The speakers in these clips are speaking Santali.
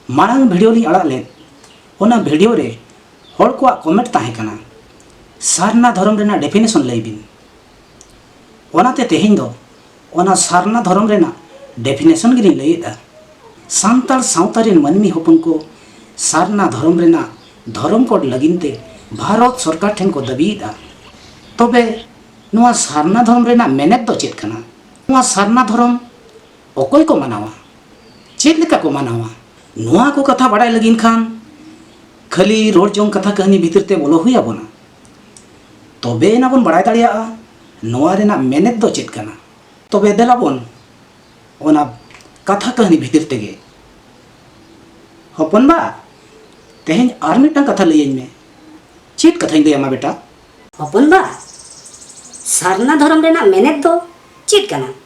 ᱢᱟᱲᱟᱝ ᱵᱷᱤᱰᱤᱭᱳ ᱞᱤᱧ ᱟᱲᱟᱜ ᱞᱮᱫ ᱚᱱᱟ ᱵᱷᱤᱰᱤᱭᱳ ᱨᱮ ᱦᱚᱲ ᱠᱚᱣᱟᱜ ᱠᱚᱢᱮᱱᱴ ᱛᱟᱦᱮᱸ ᱠᱟᱱᱟ ᱥᱟᱨᱱᱟ ᱫᱷᱚᱨᱚᱢ ᱨᱮᱱᱟᱜ ᱰᱮᱯᱷᱤᱱᱮᱥᱚᱱ ᱞᱟᱹᱭ ᱵᱤᱱ ᱚᱱᱟᱛᱮ ᱛᱮᱦᱮᱧ ᱫᱚ ᱚᱱᱟ ᱥᱟᱨᱱᱟ ᱫᱷᱚᱨᱚᱢ ᱨᱮᱱᱟᱜ ᱰᱮᱯᱷᱤᱱᱮᱥᱚᱱ ᱜᱮᱞᱤᱧ ᱞᱟᱹᱭᱮᱫᱟ ᱥᱟᱱᱛᱟᱲ ᱥᱟᱶᱛᱟ ᱨᱮᱱ ᱢᱟᱹᱱᱢᱤ ᱦᱚᱯᱚᱱ ᱠᱚ ᱥᱟᱨᱱᱟ ᱫᱷᱚᱨᱚᱢ ᱨᱮᱱᱟᱜ ᱫᱷᱚᱨᱚᱢ ᱠᱳᱰ ᱞᱟᱹᱜᱤᱫ ᱛᱮ ᱵᱷᱟᱨᱚᱛ ᱥᱚᱨᱠᱟᱨ ᱴᱷᱮᱱ ᱠᱚ ᱫᱟᱹᱵᱤᱭᱮᱫᱟ ᱛᱚᱵᱮ ᱱᱚᱣᱟ ᱥᱟᱨᱱᱟ ᱫᱷᱚᱨᱚᱢ ᱨᱮᱱᱟᱜ ᱢᱮᱱᱮᱛ ᱫᱚ ᱪᱮᱫ ᱠᱟᱱᱟ ᱱᱚᱣᱟ ᱥᱟᱨᱱᱟ ᱫᱷᱚᱨᱚᱢ ᱚᱠᱚᱭ ᱠᱚ ᱢᱟᱱᱟᱣᱟ ᱪᱮᱫ ᱞᱮᱠᱟ ᱠᱚ ᱢᱟᱱᱟᱣᱟ ᱱᱚᱣᱟ ᱠᱚ ᱠᱟᱛᱷᱟ ᱵᱟᱲᱟᱭ ᱞᱟᱹᱜᱤᱫ ᱠᱷᱟᱱ ᱠᱷᱟᱹᱞᱤ ᱨᱚᱲ ᱡᱚᱝ ᱠᱟᱛᱷᱟ ᱠᱟᱹᱦᱱᱤ ᱵᱷᱤᱛᱤᱨ ᱛᱮ ᱵᱚᱞᱚ ᱦᱩᱭ ᱟᱵᱚᱱᱟ ᱛᱚᱵᱮ ᱮᱱᱟ ᱵᱚᱱ ᱵᱟᱲᱟᱭ ᱫᱟᱲᱮᱭᱟᱜᱼᱟ ᱱᱚᱣᱟ ᱨᱮᱱᱟᱜ ᱢᱮᱱᱮᱛ ᱫᱚ ᱪᱮᱫ ᱠᱟᱱᱟ ᱛᱚᱵᱮ ᱫᱮᱞᱟ ᱵᱚᱱ ᱚᱱᱟ ᱠᱟᱛᱷᱟ ᱠᱟᱹᱦᱱᱤ ᱵᱷᱤᱛᱤᱨ ᱛᱮᱜᱮ ᱦᱚᱯᱚᱱ ᱵᱟ ᱛᱮᱦᱮᱧ ᱟᱨ ᱢᱤᱫᱴᱟᱝ ᱠᱟᱛᱷᱟ ᱞᱟᱹᱭᱟᱹᱧ ᱢᱮ ᱪᱮᱫ ᱠᱟᱛᱷᱟᱧ ᱞᱟᱹᱭᱟᱢᱟ ᱵᱮᱴᱟ ᱦᱚᱯᱚᱱ ᱵᱟ ᱥᱟᱨᱱᱟ ᱫᱷᱚᱨᱚᱢ ᱨᱮᱱᱟᱜ ᱢᱮᱱᱮᱛ ᱫᱚ ᱪᱮᱫ ᱠᱟᱱᱟ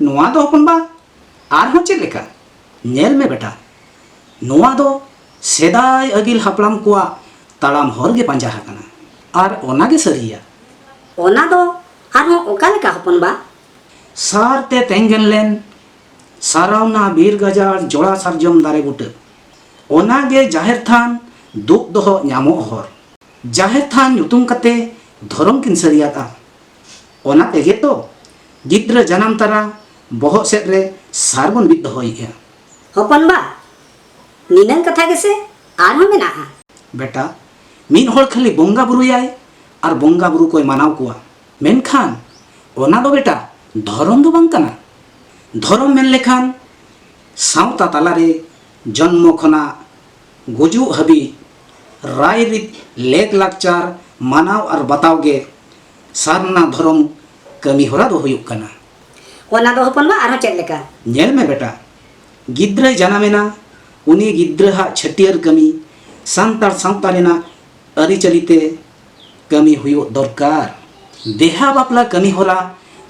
ᱱᱚᱣᱟ ᱫᱚ ᱦᱚᱯᱚᱱ ᱵᱟ ᱟᱨᱦᱚᱸ ᱪᱮᱫ ᱞᱮᱠᱟ ᱧᱮᱞ ᱢᱮ ᱵᱮᱴᱟ ᱱᱚᱣᱟ ᱫᱚ ᱥᱮᱫᱟᱭ ᱟᱹᱜᱤᱞ ᱦᱟᱯᱲᱟᱢ ᱠᱚᱣᱟᱜ ᱛᱟᱲᱟᱢ ᱦᱚᱨ ᱜᱮ ᱯᱟᱸᱡᱟ ᱟᱠᱟᱱᱟ ᱟᱨ ᱚᱱᱟ ᱜᱮ ᱥᱟᱹᱨᱤᱭᱟ ᱚᱱᱟ ᱫᱚ ᱟᱨᱦᱚᱸ ᱚᱠᱟ ᱞᱮᱠᱟ ᱦᱚᱯᱚᱱ ᱵᱟ ᱥᱟᱨ ᱛᱮ ᱛᱮᱸᱜᱮᱱ ᱞᱮᱱ ᱥᱟᱨᱟᱣᱱᱟ ᱵᱤᱨ ᱜᱟᱡᱟᱲ ᱡᱚᱲᱟ ᱥᱟᱨᱡᱚᱢ ᱫᱟᱨᱮ ᱵᱩᱴᱟᱹ ᱚᱱᱟ ᱜᱮ ᱡᱟᱦᱮᱨ ᱛᱷᱟᱱ ᱫᱩᱜ ᱫᱚᱦᱚ ᱧᱟᱢᱚᱜ ᱦᱚᱨ ᱡᱟᱦᱮᱨ ᱛᱷᱟᱱ ᱧᱩᱛᱩᱢ ᱠᱟᱛᱮ ᱫᱷᱚᱨᱚᱢ ᱠᱤᱱ ᱥᱟᱹᱨᱤᱭᱟᱫᱼᱟ ᱚᱱᱟ ᱛᱮᱜᱮ ᱛᱚ ᱜᱤᱫᱽᱨᱟᱹ ᱡᱟᱱᱟᱢ ᱛᱟᱨᱟ ᱵᱚᱦᱚᱜ ᱥᱮᱫ ᱨᱮ ᱥᱟᱨ ᱵᱚᱱ ᱵᱤᱫ ᱫᱚᱦᱚᱭᱮᱜᱼᱟ᱾ ᱦᱚᱯᱚᱱ ᱵᱟ, ᱱᱤᱱᱟᱹᱝ ᱠᱟᱛᱷᱟ ᱜᱮᱥᱮ ᱟᱨ ᱦᱚᱸ ᱢᱮᱱᱟᱜᱼᱟ᱾ ᱵᱮᱴᱟ, ᱢᱤᱫ ᱦᱚᱲ ᱠᱷᱟᱹᱞᱤ ᱵᱚᱝᱜᱟ ᱵᱩᱨᱩᱭᱟᱭ ᱟᱨ ᱵᱚᱝᱜᱟ ᱵᱩᱨᱩ ᱠᱚᱭ ᱢᱟᱱᱟᱣ ᱠᱚᱣᱟ᱾ ᱢᱮᱱᱠᱷᱟᱱ ᱚᱱᱟ ᱫᱚ ᱵᱮᱴᱟ ᱫᱷᱚᱨᱚᱢ ᱫᱚ ᱵᱟᱝ ᱠᱟᱱᱟ᱾ ᱫᱷᱚᱨᱚᱢ ᱢᱮᱱ ᱞᱮᱠᱷᱟᱱ ᱥᱟᱶᱛᱟ ᱛᱟᱞᱟ ᱨᱮ ᱡᱚᱱᱢᱚ ᱠᱷᱚᱱᱟᱜ᱾ ᱜᱩᱡᱩᱜ ᱦᱟᱹᱵᱤᱡ ᱨᱟᱭᱨᱤᱛ ᱞᱮᱠ ᱞᱟᱠᱪᱟᱨ ᱢᱟᱱᱟᱣ ᱟᱨ ᱵᱟᱛᱟᱣ ᱜᱮ ᱥᱟᱨᱱᱟ ᱫᱷᱚᱨᱚᱢ ᱠᱟᱹᱢᱤ ᱦᱚᱨᱟ ᱫᱚ ᱦᱩᱭᱩᱜ ᱠᱟᱱᱟ᱾ ᱚᱱᱟ ᱫᱚ ᱦᱚᱯᱚᱱ ᱵᱟ ᱟᱨᱦᱚᱸ ᱪᱮᱫ ᱞᱮᱠᱟ? ᱧᱮᱞ ᱢᱮ ᱵᱮᱴᱟ, ᱜᱤᱫᱽᱨᱟᱹᱭ ᱡᱟᱱᱟᱢ ᱮᱱᱟ, ᱩᱱᱤ ᱜᱤᱫᱽᱨᱟᱹ ᱦᱟᱜ ᱪᱷᱟᱹᱴᱭᱟᱹᱨ ᱠᱟᱹᱢᱤ ᱥᱟᱱᱛᱟᱲ ᱥᱟᱶᱛᱟ ᱨᱮᱱᱟᱜ ᱟᱹᱨᱤᱪᱟᱹᱞᱤ ᱛᱮ ᱠᱟᱹᱢᱤ ᱦᱩᱭᱩᱜ ᱫᱚᱨᱠᱟᱨ᱾ ᱵᱮᱦᱟ ᱵᱟᱯᱞᱟ ᱠᱟᱹᱢᱤ ᱦᱚᱨᱟ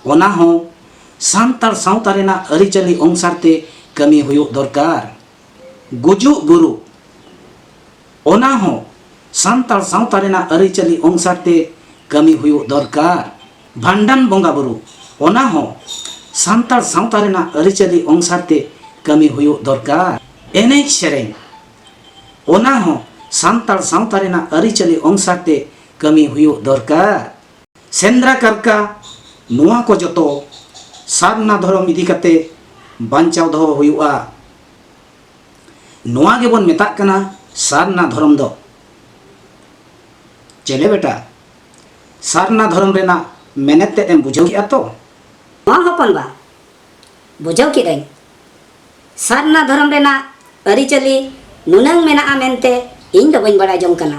ᱚᱱᱟ ᱦᱚᱸ ᱥᱟᱱᱛᱟᱲ ᱥᱟᱶᱛᱟ ᱨᱮᱱᱟᱜ ᱟᱹᱨᱤᱪᱟᱹᱞᱤ ᱚᱝᱥᱟᱨ ᱛᱮ ᱠᱟᱹᱢᱤ ᱦᱩᱭᱩᱜ ᱫᱚᱨᱠᱟᱨ᱾ ᱜᱩᱡᱩᱜ ᱜᱩᱨᱩᱜ ᱚᱱᱟ ᱦᱚᱸ ᱥᱟᱱᱛᱟᱲ ᱥᱟᱶᱛᱟ ᱨᱮᱱᱟᱜ ᱟᱹᱨᱤᱪᱟᱹᱞᱤ ᱚᱝᱥᱟᱨ ᱛᱮ ᱠᱟᱹᱢᱤ ᱦᱩᱭᱩᱜ ᱫᱚᱨᱠᱟᱨ᱾ ᱵᱷᱟᱱᱰᱟᱱ ᱵᱚᱸᱜᱟ ᱵᱩᱨᱩ ᱚᱱᱟ ᱦᱚᱸ ᱥᱟᱱᱛᱟᱲ ᱥᱟᱶᱛᱟ ᱨᱮᱱᱟᱜ ᱟᱹᱨᱤᱪᱟᱹᱞᱤ ᱚᱝᱥᱟᱨ ᱛᱮ ᱠᱟᱹᱢᱤ ᱦᱩᱭᱩᱜ ᱫᱚᱨᱠᱟᱨ᱾ ᱮᱱᱮᱡ ᱥᱮᱨᱮᱧ ᱚᱱᱟ ᱦᱚᱸ ᱥᱟᱱᱛᱟᱲ ᱥᱟᱶᱛᱟ ᱨᱮᱱᱟᱜ ᱟᱹᱨᱤᱪᱟᱹᱞᱤ ᱚᱝᱥᱟᱨ ᱛᱮ ᱠᱟᱹᱢᱤ ᱦᱩᱭᱩᱜ ᱫᱚᱨᱠᱟᱨ᱾ ᱥᱮᱸᱫᱽᱨᱟ ᱠᱟᱨᱠᱟ ᱱᱚᱣᱟ ᱠᱚ ᱡᱚᱛᱚ ᱥᱟᱨᱱᱟ ᱫᱷᱚᱨᱚᱢ ᱤᱫᱤ ᱠᱟᱛᱮ ᱵᱟᱧᱪᱟᱣ ᱫᱚᱦᱚ ᱦᱩᱭᱩᱜᱼᱟ ᱱᱚᱣᱟ ᱜᱮᱵᱚᱱ ᱢᱮᱛᱟᱜ ᱠᱟᱱᱟ ᱥᱟᱨᱱᱟ ᱫᱷᱚᱨᱚᱢ ᱫᱚ ᱪᱮᱞᱮ ᱵᱮᱴᱟ ᱥᱟᱨᱱᱟ ᱫᱷᱚᱨᱚᱢ ᱨᱮᱱᱟᱜ ᱢᱮᱱᱮᱛ ᱛᱮᱫ ᱮᱢ ᱵᱩᱡᱷᱟᱹᱣ ᱠᱮᱫᱼᱟ ᱛᱚ ᱦᱚᱸ ᱦᱚᱯᱚᱱ ᱵᱟ ᱵᱩᱡᱷᱟᱹᱣ ᱠᱮᱫᱟᱹᱧ ᱥᱟᱨᱱᱟ ᱫᱷᱚᱨᱚᱢ ᱨᱮᱱᱟᱜ ᱟᱹᱨᱤᱪᱟᱹᱞᱤ ᱱᱩᱱᱟᱹᱝ ᱢᱮᱱᱟᱜᱼᱟ ᱢᱮᱱᱛᱮ ᱤᱧ ᱫᱚ ᱵᱟᱹᱧ ᱵᱟᱲᱟᱭ ᱡᱚᱝ ᱠᱟᱱᱟ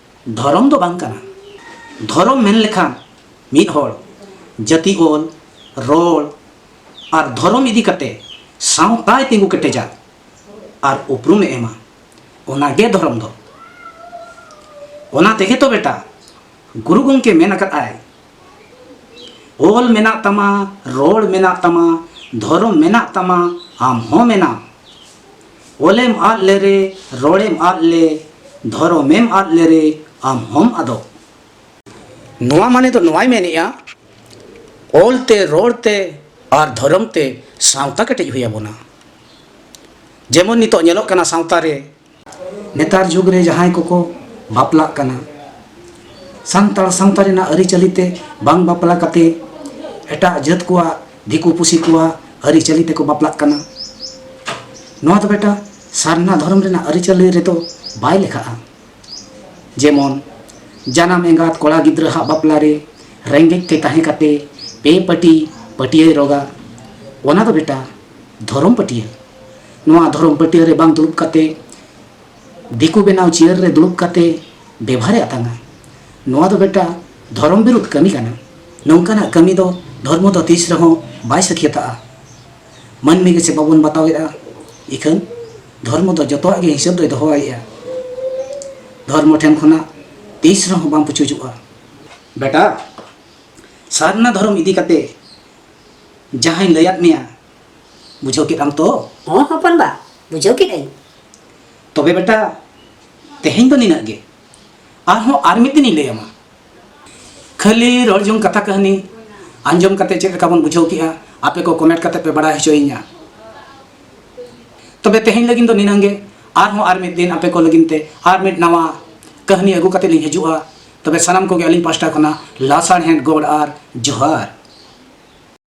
ᱫᱷᱚᱨᱚᱢ ᱫᱚ ᱵᱟᱝ ᱠᱟᱱᱟ ᱫᱷᱚᱨᱚᱢ ᱢᱮᱱ ᱞᱮᱠᱷᱟᱱ ᱢᱤᱫ ᱦᱚᱲ ᱡᱟᱹᱛᱤ ᱚᱞ ᱨᱚᱲ ᱟᱨ ᱫᱷᱚᱨᱚᱢ ᱤᱫᱤ ᱠᱟᱛᱮ ᱥᱟᱶᱛᱟᱭ ᱛᱤᱸᱜᱩ ᱠᱮᱴᱮᱡᱟ ᱟᱨ ᱩᱯᱨᱩᱢᱮ ᱮᱢᱟ ᱚᱱᱟ ᱜᱮ ᱫᱷᱚᱨᱚᱢ ᱫᱚ ᱚᱱᱟ ᱛᱮᱜᱮ ᱛᱚ ᱵᱮᱴᱟ ᱜᱩᱨᱩ ᱜᱚᱢᱠᱮ ᱢᱮᱱ ᱟᱠᱟᱫ ᱟᱭ ᱚᱞ ᱢᱮᱱᱟᱜ ᱛᱟᱢᱟ ᱨᱚᱲ ᱢᱮᱱᱟᱜ ᱛᱟᱢᱟ ᱫᱷᱚᱨᱚᱢ ᱢᱮᱱᱟᱜ ᱛᱟᱢᱟ ᱟᱢ ᱦᱚᱸ ᱢᱮᱱᱟᱢ ᱚᱞᱮᱢ ᱟᱫ ᱞᱮᱨᱮ ᱨᱚᱲᱮᱢ ᱟᱫ ᱞᱮ ᱫᱷᱚᱨᱚᱢᱮᱢ ᱟᱫ ᱞᱮᱨᱮ ᱟᱢ ᱦᱚᱢ ᱟᱫᱚᱜ᱾ ᱱᱚᱣᱟ ᱢᱟᱱᱮ ᱫᱚ ᱱᱚᱣᱟᱭ ᱢᱮᱱᱮᱜᱼᱟ ᱚᱞ ᱛᱮ ᱨᱚᱲ ᱛᱮ ᱟᱨ ᱫᱷᱚᱨᱚᱢ ᱛᱮ ᱥᱟᱶᱛᱟ ᱠᱮᱴᱮᱡ ᱦᱩᱭ ᱟᱵᱚᱱᱟ᱾ ᱡᱮᱢᱚᱱ ᱱᱤᱛᱚᱜ ᱧᱮᱞᱚᱜ ᱠᱟᱱᱟ ᱥᱟᱶᱛᱟ ᱨᱮ᱾ ᱱᱮᱛᱟᱨ ᱡᱩᱜᱽ ᱨᱮ ᱡᱟᱦᱟᱸᱭ ᱠᱚᱠᱚ ᱵᱟᱯᱞᱟᱜ ᱠᱟᱱᱟ ᱥᱟᱱᱛᱟᱲ ᱥᱟᱶᱛᱟ ᱨᱮᱱᱟᱜ ᱟᱹᱨᱤᱪᱟᱹᱞᱤ ᱛᱮ ᱵᱟᱝ ᱵᱟᱯᱞᱟ ᱠᱟᱛᱮ ᱮᱴᱟᱜ ᱡᱟᱹᱛ ᱠᱚᱣᱟᱜ ᱫᱤᱠᱩ ᱯᱩᱥᱤ ᱠᱚᱣᱟ ᱟᱹᱨᱤ ᱪᱟᱹᱞᱤ ᱛᱮᱠᱚ ᱵᱟᱯᱞᱟᱜ ᱠᱟᱱᱟ ᱱᱚᱣᱟ ᱫᱚ ᱵᱮᱴᱟ ᱥᱟᱨᱱᱟ ᱫᱷᱚᱨᱚᱢ ᱨᱮᱱᱟᱜ ᱟᱹᱨᱤ ᱪᱟᱹᱞᱤ ᱨᱮᱫᱚ ᱵᱟᱭ ᱞᱮᱠᱷᱟᱜᱼᱟ ᱡᱮᱢᱚᱱ ᱡᱟᱱᱟᱢ ᱮᱸᱜᱟᱛ ᱠᱚᱲᱟ ᱜᱤᱫᱽᱨᱟᱹ ᱦᱟᱜ ᱵᱟᱯᱞᱟ ᱨᱮ ᱨᱮᱸᱜᱮᱡ ᱛᱮ ᱛᱟᱦᱮᱸ ᱠᱟᱛᱮ ᱯᱮ ᱯᱟᱹᱴᱤ ᱯᱟᱹᱴᱤᱭᱟᱹᱭ ᱨᱚᱜᱟ ᱚᱱᱟ ᱫᱚ ᱵᱮᱴᱟ ᱫᱷᱚᱨᱚᱢ ᱯᱟᱹᱴᱤᱭᱟᱹ ᱱᱚᱣᱟ ᱫᱷᱚᱨᱚᱢ ᱯᱟᱹᱴᱤᱭᱟᱹ ᱨᱮ ᱵᱟᱝ ᱫᱩᱲᱩᱵ ᱠᱟᱛᱮ ᱫᱤᱠᱩ ᱵᱮᱱᱟᱣ ᱪᱤᱭᱟᱹᱨ ᱨᱮ ᱫᱩᱲᱩᱵ ᱠᱟᱛᱮ ᱵᱮᱵᱷᱟᱨᱮ ᱟᱛᱟᱝᱟ ᱱᱚᱣᱟ ᱫᱚ ᱵᱮᱴᱟ ᱫᱷᱚᱨᱚᱢ ᱵᱤᱨᱩᱫᱷ ᱠᱟᱹᱢᱤ ᱠᱟᱱᱟ ᱱᱚᱝᱠᱟᱱᱟᱜ ᱠᱟᱹᱢᱤ ᱫᱚ ᱫᱷᱚᱨᱢᱚ ᱫᱚ ᱛᱤᱥ ᱨᱮᱦᱚᱸ ᱵᱟᱭ ᱥᱟᱹᱠᱷᱭᱟᱹᱛᱟᱜᱼᱟ ᱢᱟᱹᱱᱢᱤ ᱜᱮᱥᱮ ᱵᱟᱵᱚᱱ ᱵᱟᱛᱟᱣᱮᱫᱼᱟ ᱤᱠᱷᱟᱹᱱ ᱫᱷᱚᱨᱢᱚ ᱫᱚ ᱡᱚᱛᱚᱣᱟᱜ ᱜᱮ ᱦᱤᱥᱟᱹᱵ ᱫᱚᱭ ᱫᱚᱦᱚᱭᱮᱫᱼᱟ ᱫᱷᱚᱨᱢᱚ ᱴᱷᱮᱱ ᱠᱷᱚᱱᱟᱜ ᱛᱤᱥ ᱨᱮᱦᱚᱸ ᱵᱟᱝ ᱯᱩᱪᱩᱡᱚᱜᱼᱟ ᱵᱮᱴᱟ ᱥᱟᱨᱱᱟ ᱫᱷᱚᱨᱚᱢ ᱤᱫᱤ ᱠᱟᱛᱮ ᱡᱟᱦᱟᱸᱭ ᱞᱟᱹᱭᱟᱫ ᱢᱮᱭᱟ ᱵᱩᱡᱷᱟᱹᱣ ᱠᱮᱫ ᱟᱢ ᱛᱚ ᱦᱚᱸ ᱦᱚᱯᱚᱱ ᱵᱟ ᱵᱩᱡᱷᱟᱹᱣ ᱠᱮᱫ ᱟᱹᱧ ᱛᱚᱵᱮ ᱵᱮᱴᱟ ᱛᱮᱦᱮᱧ ᱫᱚ ᱱᱤᱱᱟᱹᱜ ᱜᱮ ᱟᱨᱦᱚᱸ ᱟᱨ ᱢᱤᱫ ᱫᱤᱱᱤᱧ ᱞᱟᱹᱭ ᱟᱢᱟ ᱠᱷᱟᱹᱞᱤ ᱨᱚᱲ ᱡᱚᱝ ᱠᱟᱛᱷᱟ ᱠᱟᱹᱦᱱᱤ ᱟᱸᱡᱚᱢ ᱠᱟᱛᱮ ᱪᱮᱫ ᱞᱮᱠᱟ ᱵᱚᱱ ᱵᱩᱡᱷᱟᱹᱣ ᱠᱮᱜᱼᱟ ᱟᱯᱮ ᱠᱚ ᱠᱚᱢᱮᱱᱴ ᱠᱟᱛᱮ ᱯᱮ ᱵᱟᱲᱟᱭ ᱦᱚᱪᱚᱭᱤᱧᱟ ᱛᱚᱵᱮ ᱛᱮᱦᱮᱧ ᱞᱟᱹᱜᱤᱫ ᱫᱚ ᱱᱤᱱᱟᱹᱝ ᱜᱮ ᱟᱨᱦᱚᱸ ᱟᱨ ᱢᱤᱫ ᱫᱤᱱ ᱟᱯᱮ ᱠᱚ ᱞᱟᱹᱜᱤᱫ ᱛᱮ ᱟᱨ ᱢᱤᱫ ᱱᱟᱣᱟ ᱠᱟᱹᱦᱱᱤ ᱟᱹᱜᱩ ᱠᱟᱛᱮ ᱞᱤᱧ ᱦᱤᱡᱩᱜᱼᱟ ᱛᱚᱵᱮ ᱥᱟᱱᱟᱢ ᱠᱚᱜᱮ ᱟᱹᱞᱤᱧ ᱯᱟᱥᱴᱟ ᱠᱷᱚᱱᱟᱜ ᱞᱟᱥᱟᱲᱦᱮᱫ ᱜᱚᱲ ᱟᱨ ᱡᱚᱦᱟᱨ